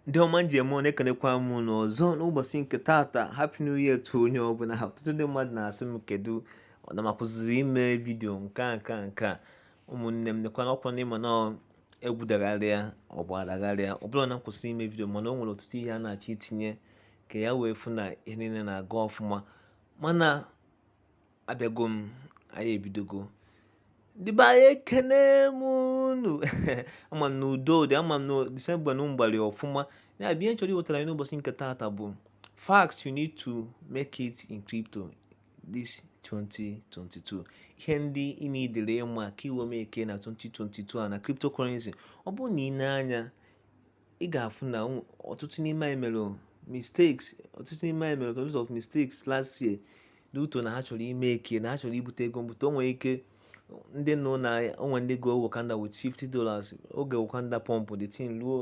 ndị ọma m ji eme ọnụ ekenekwa m unu ọzọ n'ụbọchị nke taata happy new year to onye ọbụla ha ọtụtụ ndị mmadụ na-asị m kedu ọ na m akwụsịrị ime vidio nke a nke a nke a ụmụnne m nekwana ọkwa na ị ma na egwu dagharịa ọgba dagharịa ọ bụrọ na m kwụsịrị ime vidio mana o nwere ọtụtụ ihe a na-achọ itinye ka ya wee fụ na ihe niile na-aga ọfụma mana abịago m anyị ebidogo ndị be anyị ekene m unu ama m na udo dị ama m na disemba unu gbalị ọfụma ya bụ ihe m chọrọ iwetara anyị n'ụbọchị nke taata bụ facts you need to make it in crypto this 2022 ihe ndị ị needịrị ịma ka i wee makee na 2022 a na cryptocurrency ọ bụrụ na ị nee anya ị ga-afụ na ọtụtụ n'ime anyị mere mistakes ọtụtụ n'ime anyị mere tons of mistakes last year due to na ha chọrọ imake na ha chọrọ ibute ego mbute o nwere ike ndị nụ na o nwe ndị go Wakanda with 50 dollars oge Wakanda pump the thing ruo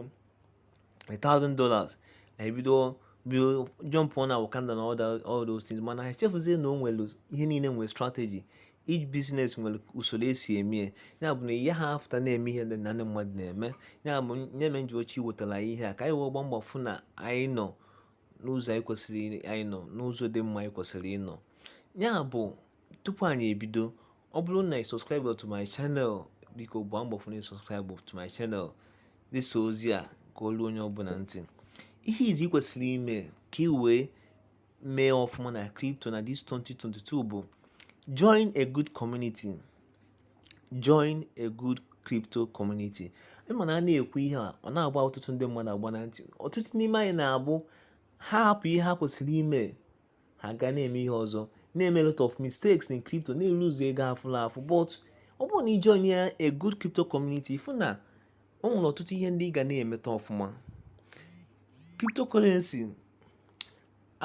1000 dollars na ebido bido jump on na Wakanda na all those things mana ha echefuzie na o nwere ihe niile nwere strategy each business nwere usoro e si eme ya ya bụ na ihe ha afụta na-eme ihe ndị na ndị mmadụ na-eme ya bụ ihe mere m ji achọ iwetara anyị ihe a ka anyị wee gbaa mbọ fụ na anyị nọ n'ụzọ anyị kwesịrị anyị nọ n'ụzọ dị mma anyị kwesịrị ịnọ ya bụ tupu anyị ebido ọ bụrụ na ị subscribe to my channel biko gbaa mbọ fụ na ị subscribe to my channel zisa ozi a ka o lue onye ọbụla ntị ihe izizi ị kwesịrị ime ka ị wee mee ọfụma na crypto na this 2022 bụ join a good community join a good crypto community ị ma na a na-ekwu ihe a ọ na-agba ọtụtụ ndị mmadụ agba na ntị ọtụtụ n'ime anyị na-abụ ha hapụ ihe ha kwesịrị ime ha gaa na-eme ihe ọzọ na-eme lot of mistakes in crypto na-elose ego afụla afụ but ọ bụrụ na ị joinia a good crypto community ị fụ na o nwere ọtụtụ ihe ndị ị ga na-emeta ọfụma cryptocurrency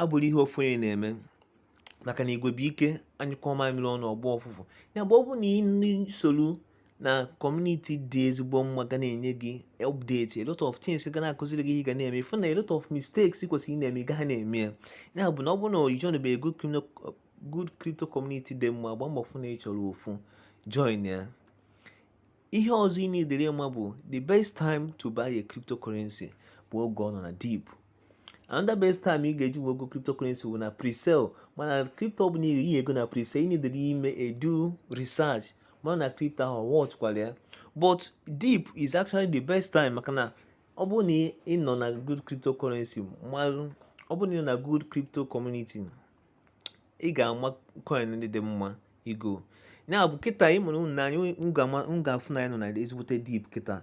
abụrọ ihe ofu onye na-eme maka na igwe bụ ike a nyụkọọ mamịrị ọnụ ọ gbọọ ụfụfụ ya bụ ọ bụrụ na ị soro na community dị ezigbo mma ga na-enye gị update a lot of things ga na-akuziri gị ihe ị ga na-eme ị fụ na a lot of mistakes ị kwesịrị ịna-eme ị gaha na-eme ya ya bụ na ọ bụrụ na ị joinbeghị good crypto community dị mma gbaa mbọ fụ na ị chọrọ ofu join ya Ihe ọzọ ị needịrị ịma bụ the best time to buy a cryptocurrency bụ oge ọ nọ na dip. Another best time ị ga-eji wee go cryptocurrency bụ na pre-sale mana crypto ọ bụla ị go na pre-sale ị needịrị ime due research ma na na crypto ahụ worthkwara ya but dip is actually the best time maka na ọ bụrụ na ị nọ na good cryptocurrency malụ ọ bụrụ na ị nọ na good crypto community ị ga-ama coin ndị dị mma igo ya bụ kịta ị mụrụ anya ị ga-afụ na anyị nọ na ezigbote dip kịta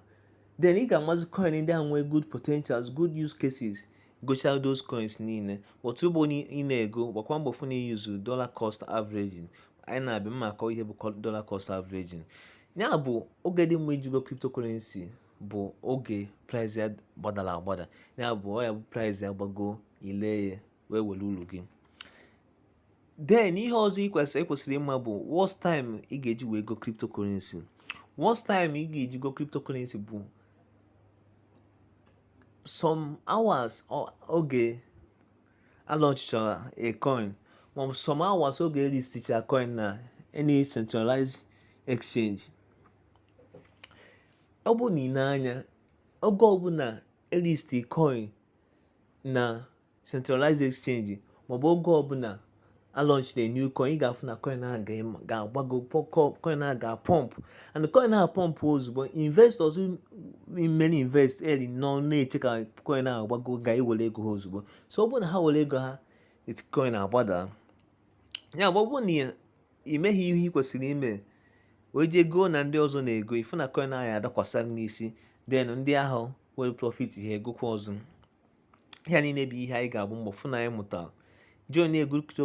then ị ga-amazi coin ndị ahụ nwee good potentials good use cases gocha those coins niile but mgbe ị na-ego gbakwa mbọ fụ na i use dollar cost averaging anyị na-abịa mma akọ ihe bụ dollar cost averaging ya bụ oge dị mma iji go cryptocurrency bụ oge price ya gbadara agbada ya bụ ọ ya-abụ price ya gbago i lee ya wee were uru gị then ihe ọzọ ị kwesị ị kwesịrị ịma bụ worst time ị ga-eji wee go cryptocurrency worst time ị ga-eji go cryptocurrency bụ some hours oge a launchichara a coin maọbụ some hours oge e listicha coin na any centralized exchange ọ bụ na i nee anya oge ọbụla e listi coin na centralized exchange maọbụ oge ọbụla a launch a new coin ị ga-afụ na coin ahụ ga-agbago coin ahụ ga-apump and coin ahụ pump ozugbo investors mere invest early nọ na-eche ka coin ahụ gbago ga-ewere ego ha ozugbo so ọ bụrụ na ha were ego ha coin agbada ya bụ ọ bụrụ na ị meghị ihe ị kwesịrị ime wee jee goo na ndị ọzọ na-ego ị fụ na coin ahụ adakwasa n'isi then ndị ahụ were profit ha egokwa ọzọ ihe a niile bụ ihe anyị ga-agba mbọ fụ na anyị mụtara join a good crypto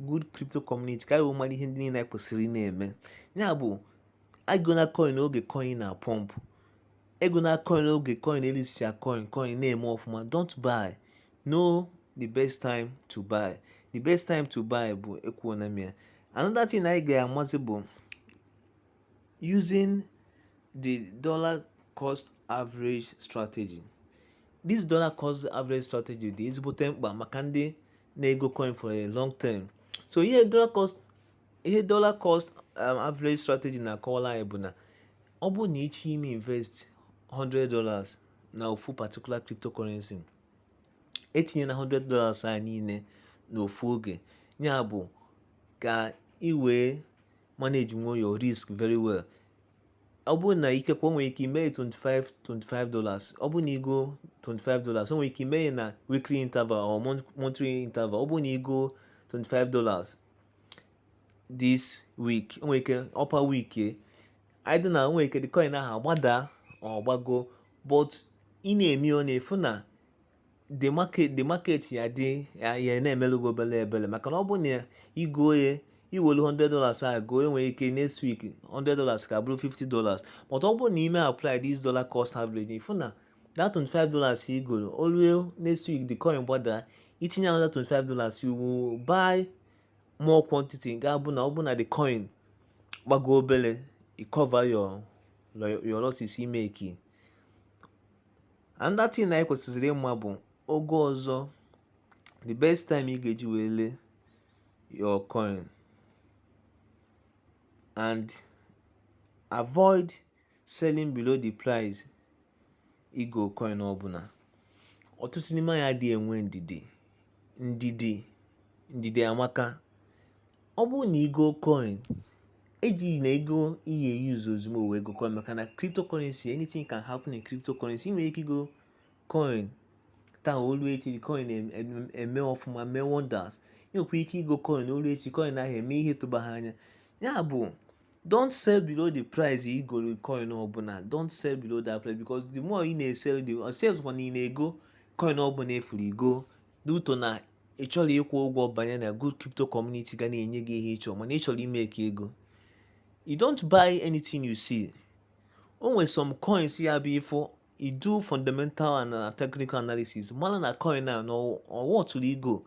good crypto community ka anyị wee mara ihe ndị niile anyị kwesịrị na-eme ya bụ egona coin oge coin na-apump egona coin oge coin e listicha coin coin na-eme ọfụma don't buy know the best time to buy the best time to buy bụ ekwuona m ya another thing anyị ga-amazi bụ using the dollar cost average strategy this dollar cost average strategy dị ezigbote mkpa maka ndị na-ego coin for a long term so ihe dollar cost ihe dollar cost um, average strategy na-akọwara anyị bụ na ọ bụ na ị chọọ ime invest 100 dollars na ofu particular cryptocurrency etinyena 100 dollars ahụ niile n'ofu oge ya bụ ka ị wee manage nwuo your risk very well ọ bụrụ na ike kwe o nwere ike ime 25 25 dollars ọ bụrụ na i goo 25 dollars o nwere ike ime na weekly interval or monthly interval ọ bụrụ na i goo 25 dollars this week o nwere ike upper week either na o nwere ike the coin ahụ agbada or gbago but ị na-eme ọ na-afụ na the market the market ya dị ya ya na-emelụ gị obele ebele maka na ọ bụ na igo ya iwelu 100 dollars a goo enwere ike next week 100 dollars ka bụrụ 50 dollars but ọ bụrụ na ime apply this dollar cost average ifu na that 25 dollars i golu o lue next week the coin gbada itinye another 25 dollars you will buy more quantity ga-abụ na ọ bụ na the coin gbago obele i cover your your losses imeki another thing anyị kwesịziri ịma bụ oge ọzọ the best time ị ga-eji wee lee your coin and avoid selling below the price igo coin ọbụla ọtụtụ n'ime anyị adịghị enwe ndidi ndidi amaka ọ bụrụ na igo coin ejina ego ị ya-e use ozugbo wee go coin maka na cryptocurrency anything can happen in cryptocurrency ị nwere ike igo coin taa olu echi coin eme ọfụma mee wonders ị nwekwa ike igo coin olu echi coin ahụ eme ihe ị tụbaha anya ya bụ don't sell below the price igo coin ọbụla don't sell below that price because the more you na-esell the sales kwa na ị na-ego coin ọbụla ị fụrụ igo n'uto na ị chọrọ ịkwụ ụgwọ banye na good crypto community ga na-enye gị ihe ịchọ mana ị chọrọ imeki ego you don't buy anything you see o nwere some coins ya bụ ị fụ i do fundamental and uh, technical analysis mara na coin a na ọ worthụrụ igo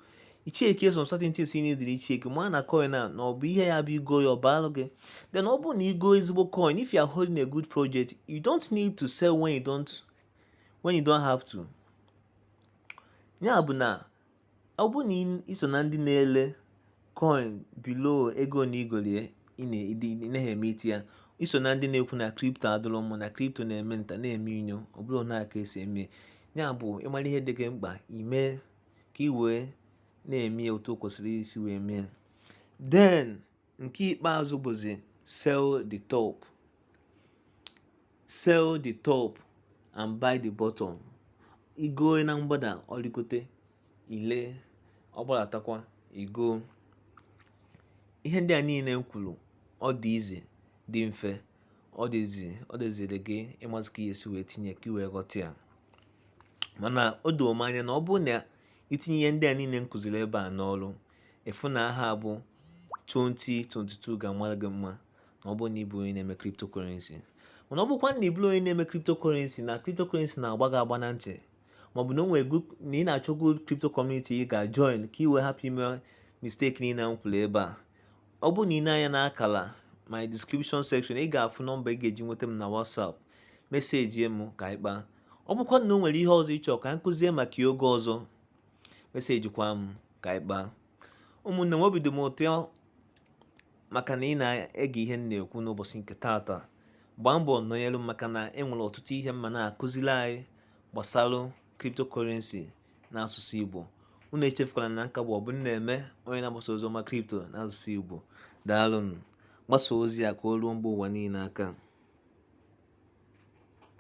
icheki some certain things ị needịrị icheki mara na coin a na ọ bụ ihe ya bụ igo ya ọbaalụ gị then ọ bụrụ na igo ezigbo coin if you are holding a good project you don't need to sell when you don't have to Ya bụ na ọ bụ na iso na ndị na-ele coin below ego na igolu ya ịnaghị emeta ya iso na ndị na-ekwu na crypto adịrọ mma na crypto na-eme nta na-eme inyo ọ bụrụ na aka esi eme ya bụ ịmara ihe dị gị mkpa ime ka ị wee na-eme otu o kwesịrị isi wee mee ya then nke ikpeazụ bụzi sell the sell the top and buy the bottom igo na mgbada ọrịgote ile ọ gbadatakwa igo ihe ndị a niile m kwuru ọ dị easy dị mfe ọ dịzi ọ dịziri gị ịmazi ka ị ya-esi wee tinye ka iwee ghọta ya mana o doo m anya na ọ bụrụ na itinye ihe ndị a niile m kụziri ebe a n'ọrụ efu na ahọ a bụ 2022 ga-amara gị mma ma ọ bụrụ na ị bụ onye na-eme cryptocurrency mana ọ bụkwa na ị bụrọ onye na-eme cryptocurrency na cryptocurrency na-agba gị agba na ntị maọbụ na o nwere na ị na-achọ good crypto community ị ga-join ka ị wee hapụ ime mistake niile m kwuru ebe a ọ bụrụ na ị nee anya na akala my description section ị ga-afụ nọmba ị ga-eji nweta m na WhatsApp meseji m ka anyị kpaa ọ bụkwa na o nwere ihe ọzọ ị chọ ka anyị kụzie maka ya oge ọzọ meseji kwa m ka anyị kpaa ụmụnne m obi dị m ụtọ maka na ị na-ege ihe m na-ekwu n'ụbọchị nke taata gbaa mbọ nọnyere m maka na e nwere ọtụtụ ihe m ma na-akụziri anyị gbasara cryptocurrency na asụsụ Igbo unu echefukwala na nke a bụ ọ bụ na-eme onye na-agbasa ozi ọma crypto na asụsụ Igbo daalụnụ gbasa ozi a ka o ruo mba ụwa niile aka